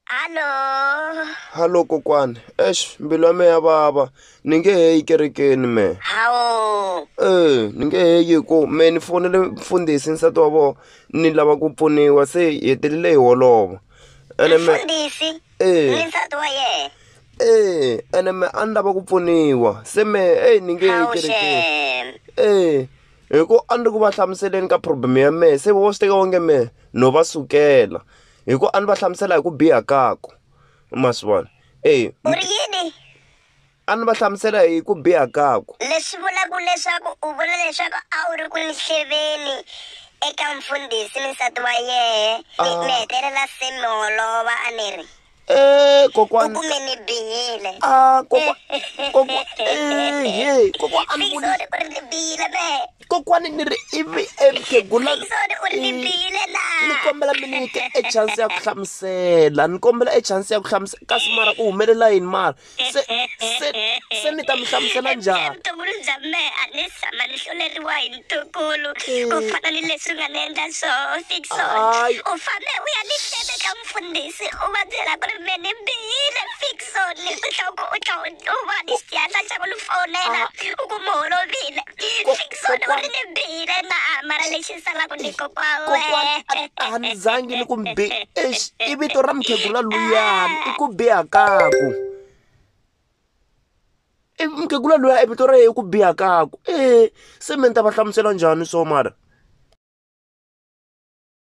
Halo. Halo kokwani. Eish, mbilu ya me ya vava. Ni nge he yi kerekeni me. Hawo. Eh, ni nge he yi ku me ni fonele mfundhisi nsati wa vona ni lava ku pfuniwa se hi hetelele hi holova. Ene me Mfundhisi. Eh. Ni nsati wa yena. Eh, ene me a ni lava ku pfuniwa. Se me hey ni nge he yi Hawu kerekeni. shem. Eh, hi ku a ni ri ku va hlamuseleni ka problem ya mehe se vo swi teka onge mehe no va sukela hi ku a ni va hlamusela hi ku biha kako ma swi vona e u ri yini a ni va hlamusela hi ku biha kako leswi vulaka leswaku u vula leswaku a wu ri ku ni hleveni eka mfundhisi ni nsati wa yehe ni hetelela se mi holova a ni ri Eh, kokwana. U kume ni bihile. Ah, kokwa. Kokwa. Eh, hey, kokwa a ni vuli. Sixode u ri ni bihile be. Kokwana ni ri ivi ekhegula. Sixode u ri ni bihile la. Ni kombela mi nyike e chance ya ku hlamusela. Ni kombela e chance ya ku hlamusela kasi mara u humelela yini mara. se se se ni ta mi hlamusela njhani vutukulu bya mehe a ni tshama ni hluleriwa hi ntukulu ku eh. fana ni leswi nga ni endla swoho fixon u fambe u ya ni hlete ka mfundhisi u va byela ku ri me ni bihile fixon leswi hloko u tlha u va ni xihatla xa ku ni fonela ah. u ku mi holovile Kokwana- ni bile na mara lexi salaka ni kokwana kokwana a a ni zangi ni ku bi eish, i vito ra mukhegula luyani i ku biha kaku i mukhegula luya i vito ra yena i ku biha kaku e se me ni ta va hlamusela njhani so mara